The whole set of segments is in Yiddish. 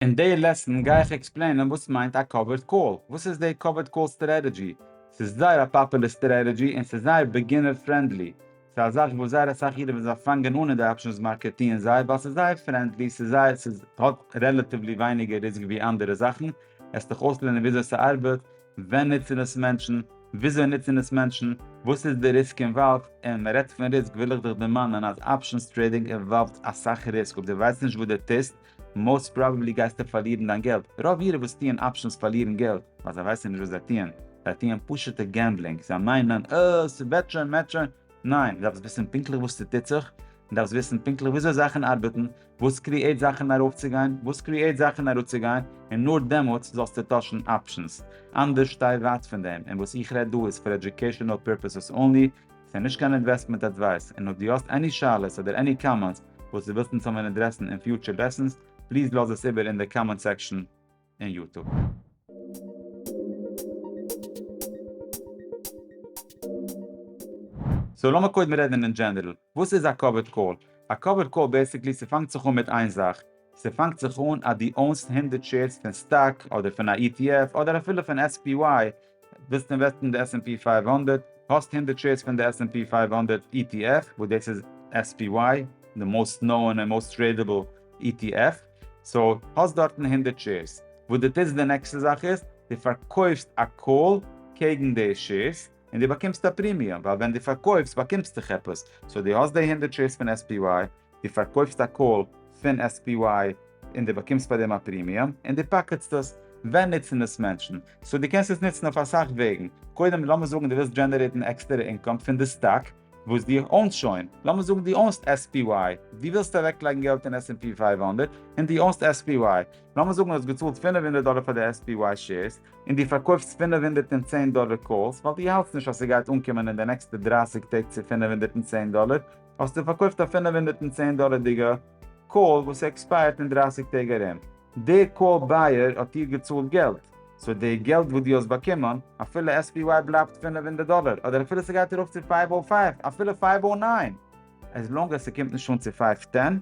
אין די לעסן גיי איך עקספלעינען וואס מיינט א קאווערד קאל, וואס איז די קאווערד קאל סטרעטעדזשי, ס'איז זייער א פאפולער סטרעטעדזשי און ס'איז זייער ביגינער פרענדלי, ס'איז א זאך וואס זייער אסאך אידן וואס זיי פאנגען אן אין די אפשענס מארקעט טוען זיי ווייל ס'איז זייער פרענדלי, ס'איז זייער ס'איז האט רעלעטיוולי ווייניגער ריסק ווי אנדערע זאכן, עס דיך אויסלערנען וויאזוי ס'ארבעט, ווען נוצן עס מענטשן, וויאזוי נוצן עס מענטשן, וואס איז די ריסק אינוואלווד, און מ'רעדט פון ריסק וויל איך דיך דערמאנען אז אפשענס טרעידינג אינוואלווד אסאך ריסק אויב די ווייסט נישט וואס די טוסט, מאוסט פראבעבלי גייסטו פארלירן דיין געלט, רוב אירע וואס טוען אפשענס פארלירן געלט ווייל זיי ווייסן נישט וואס זיי טוען, זיי טוען פשוטע געמבלינג, זיי מיינען אה ס'וועט שוין מ'עט שוין, ניין דו דארפסט וויסן פונקטליך וואס ס'טוט זיך, דו דארפסט וויסן פונקטליך וויאזוי זאכן ארבעטן, וואס קריעט זאכן ארויפצוגיין, וואס קריעט זאכן אראפצוגיין, און נאר דעמאלטס זאלסטו טוישן אפשענס, אנדערש שטיי ווייט פון דעם, און וואס איך רעד דא איז פאר עדיוקעישאנעל פירפעסעס אנלי, ס'איז נישט קיין אינוועסטמענט אדווייס, און אויב דו האסט עני שאלות אדער עני קאמענטס וואס דו ווילסט אונז זאלן ווען אדרעסן אין פיוטשער לעסענס, פליז לאז עס איבער אין די קאמענט סעקשאן אין יוטוב. סאו לאמיר קודם רעדן אין דזשענערל, וואס איז א קאווערד קאל? א קאווערד קאל בעסיקלי ס'פאנגט זיך אן מיט איין זאך, ס'פאנגט זיך אן אז דו אונסט הונדערט שעירס פון סטאק אדער פון א ETF אדער אפילו פון SPY, ווילסט אינוועסטן אין די עס ענד פי פייוו הונדערט? האסט הונדערט שעירס פון די עס ענד פי פייוו הונדערט אי טי עף, וואס דאס איז עס פי וואי, די מאוסט נאוען און מאוסט טרעידעבל אי טי עף, סאו האסט דארטן הונדערט שעירס. וואס דו טוסט די נעקסטע זאך איז, דו פארקויפסט א קאל קעגן די שעירס, און דו באקומסט א פרימיום, ווייל ווען דו פארקויפסט באקומסטוך עפעס, סאו דו האסט די הונדערט שעירס פון עס פי וואי, דו פארקויפסט א קאל פון SPY און דו באקומסט פאר דעם א פרימיום, און דו פאקעטסט עס, ווען נוצן עס מענטשן? סאו דו קענסט עס נוצן אויף אסאך וועגן, קודם לאמיר זאגן דו ווילסט דזשענערעיטן עקסטערע אינקאם פון די סטאק וואס דו אונסט שוין, לאמיר זאגן דו אונסט SPY, דו ווילסט אוועקלייגן געלט אין עס ענד פי פֿינף הונדערט און דו אונסט SPY, לאמיר זאגן דו האסט געצאלט פֿינף הונדערט דאלער פאר די SPY שעירס און דו פארקויפסט פֿינף הונדערט און צען דאלער קאלס ווייל דו האלטסט נישט אז ס'גייט אנקומען אין די נעקסטע דרײַסיק טעג צו פֿינף הונדערט און צען דאלער, האסטו פארקויפט א פֿינף הונדערט און צען דאלערדיגע קאל וואס עקספייערט אין דרײַסיק טעג ארום, די קאל בייער האט דיר געצאלט געלט, סאו די געלט וואס דו האסט באקומען, אפילו SPY בלייבט פֿינף הונדערט דאלער, אדער אפילו ס'גייט ארויף צו פֿינף הונדערט פֿינף, אפילו פֿינף הונדערט נײַן, עז לאנג עז ס'קומט נישט אן צו פֿינף טען,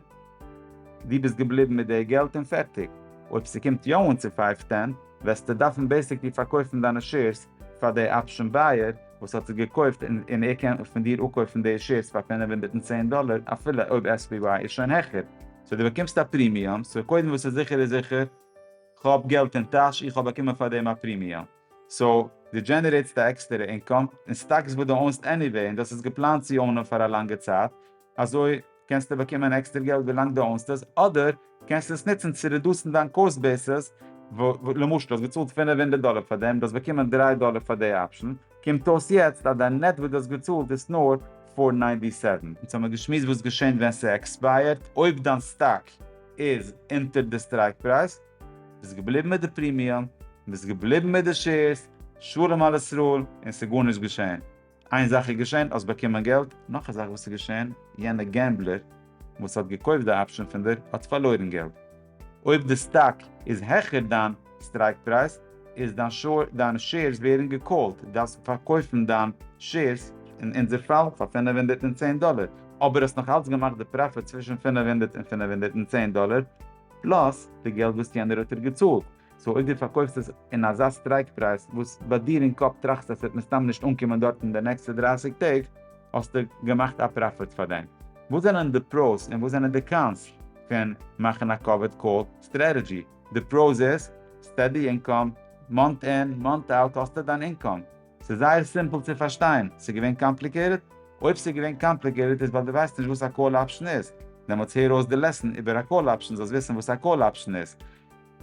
דו ביסט געבליבן מיט די געלט און פערטיג, אויב ס'קומט יא אן צו פֿינף טען, וועסטו דארפן בעיסיקלי פארקויפן דיינע שעירס פאר די אפשען בייער, וואס האט עס געקויפט און ער קען פון דיר אפקויפן די שעירס פאר פֿינף הונדערט און צען דאלער אפילו אויב SPY איז שוין העכער, סאו דו באקומסט א פרימיום, סאו קודם וואס איז זיכער איז זיכער, כאב געלט אין טאש איך האב באקומען פאר דעם א פרימיום, סאו דו דזשענערעיטסט א עקסטערע אינקאם, און סטאקס וואס דו אוינסט עניוועי און דו האסט עס געפלאנט צו אוינען פאר א לאנגע צייט, אזוי. קענסטו באקומען עקסטער געלט ווילאנג דו אונסט עס, אדער קענסטו עס נוצן צו רעדוסן דיין קאסט בעיסעס, למשל האסט געצאלט פֿינף הונדערט דאלער פאר דעם, דו האסט באקומען דרײַ דאלער פאר די אפשן, קומט אויס יעצט אז דיין נעט וואס דו האסט געצאלט איז נאר פֿיר הונדערט נײַנציק און זיבן. אונז האמיר געשמועסט וואס געשענט ווען ס'עקספייערט, אויב דיין סטאק איז אונטער די סטרייק פרייז, ביסט געבליבן מיט די פרימיום, ביסט געבליבן מיט די שעירס, שלום על ישראל, און ס'גארנישט געשען. איין זאך איז געשען, האסט באקומען געלט, נאך א זאך וואס איז געשען, יענע געמבלער וואס האט געקויפט די אפשען פון דיר האט פארלוירן געלט, אויב די סטאק איז העכער דיין סטרייק פרייז איז דיין שאר, דיינע שעירס ווערן געקאלט, די דארפסט פארקויפן דיין שעירס, אין אונזער פאל פאר פֿינף הונדערט און צען דאלער, אבער האסט נאך אלץ געמאכט די פראפיט צווישן פֿינף הונדערט און פֿינף הונדערט און צען דאלער, פלאס די געלט וואס יענער האט דיר געצאלט, סאו אויב דו פארקויפסט עס אין אזא סטרייק פרייז וואס ביי דיר אין קאפ טראכסטו אז ס'וועט מסתם נישט אנקומען דארט אין די נעקסטע דרײַסיק טעג, האסטו געמאכט א פראפיט פאר דעם. וואס זענען די פראוס און וואס זענען די קאנס פון מאכן א קאווערד קאל סטרעטעדזשי? די פראוס איז, סטעדי אינקאם, מאנט אין, מאנט אוט האסטו דיין אינקאם. ס'איז זייער סימפל צו פארשטיין. ס'איז געווען קאמפליקעיטעד? אויב ס'איז געווען קאמפליקעיטעד איז ווייל דו ווייסט נישט וואס א קאל אפשן איז. דעמאלטס הער אויס די לעסן איבער א קאל אפשן זאלסט וויסן וואס א קאל אפשן איז.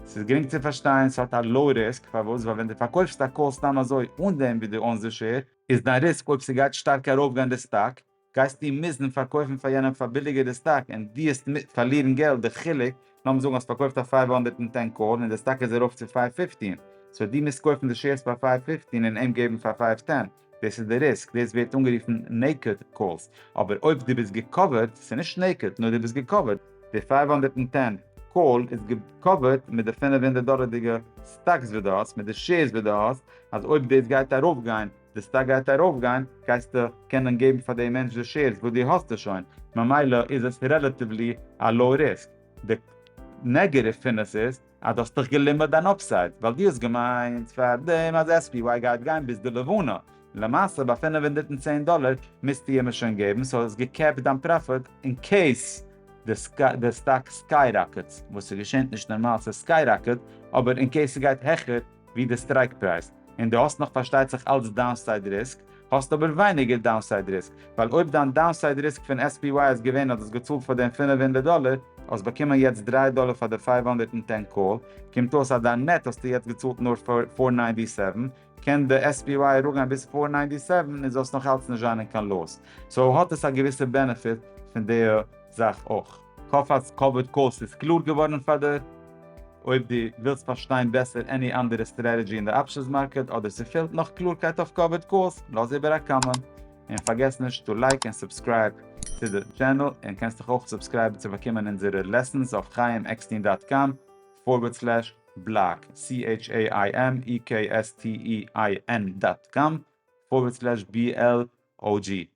ס'איז גרינג צו פארשטיין, ס'האט א לאו ריסק, פארוואס? ווייל ווען דו פארקויפסט א קאל סתם אזוי אן דעם וואס דו אונסט די שער, איז דיין ריסק אויב ס'גייט שטארק ארויפגיין די סטאק, גייסטו מוזן פארקויפן פאר יענעם פאר ביליגער די סטאק און דיעסט פארלירן געלט, די חילוק, לאמיר זאגן האסט פארקויפט א פייוו הונדערט און טען קאל און די סטאק איז ארויף צו פייוו פיפטין, סאו דו מוזט קויפן די שעירס פאר פייוו פיפטין און אים געבן פאר פייוו טען. דאס איז די ריסק, דאס ווערט אנגערופן נעיקעד קאלס, אבער אויב דו ביסט געקאווערט, ס'איז נישט נעיקעד, נאר דו ביסט געקאווערט. די פֿינף הונדערט צען קאל איז געקאווערט מיט די פֿינף הונדערט דאלערדיגע סטאקס וואס דו האסט, מיט די שעירס וואס דו האסט, אז אויב דאס גייט ארויפגיין, די סטאק גייט ארויפגיין, גייסטו קענען געבן פאר די מענטש די שעירס וואס דו האסט שוין, ממילא איז עס רעלאטיוולי א לאו ריסק. די נעגעטיוו פון עס איז, אז דו האסט דיך געלימערט דיין אפסייד, ווייל דו האסט געמיינט פאר דעם אז SPY גייט גיין ביז די לבנה, למעשה ביי פֿינף הונדערט און צען דאלער מוזטו אים עס שוין געבן, סאו האסט געקעפט דיין פראפיט אין קעיס די סטאק סקייראקעטס, וואס ס'געשענט נישט נארמאל ס'סקייראקעט, אבער אין קעיס ס'גייט העכער, ווי די סטרייק פרייז, און דו האסט נאך פארשטייט זיך אלץ דאונסייד ריסק, האסטו אבער ווייניגער דאונסייד ריסק, ווייל אויב דיין דאונסייד ריסק פון SPY איז געווען אז דו האסט געצאלט פאר דעם פֿינף הונדערט דאלער, האסט באקומען יעצט דרײַ דאלער פאר די פֿינף הונדערט און צען קאל, קומט אויס אז דיין נעט האסטו יעצט געצאלט נאר פֿיר הונדערט נײַנציק סעוון, קען די SPY אראפגיין ביז פֿיר הונדערט נײַנציק סעוון און זאלסט נאך אלץ נישט זיין אין קיין לאס, סאו האט עס א געוויסע בענעפיט פון די זאך אויך. כ'האף אז קאוויד קאוסט איז קלאר געווארן פאר דיר. אויב דו ווילסט פארשטיין בעסער עני אנדערע סטרעטעדזשי אין די אפשענס מארקעט אדער ס'פעלט נאך קלארקייט אויף קאוויד קאוסט לאז איבער א קאמענט. און פארגעס נישט טו לייק און סובסקרייב צו די טשענעל און קענסט דיך אויך סובסקרייבן צו באקומען אונזערע לעסענס אויף חיים עקסטין דאט קאם פארווערד סלעש בלאג CHAIMEKSTEIN דאט קאם פארווערד סלעש BLOG.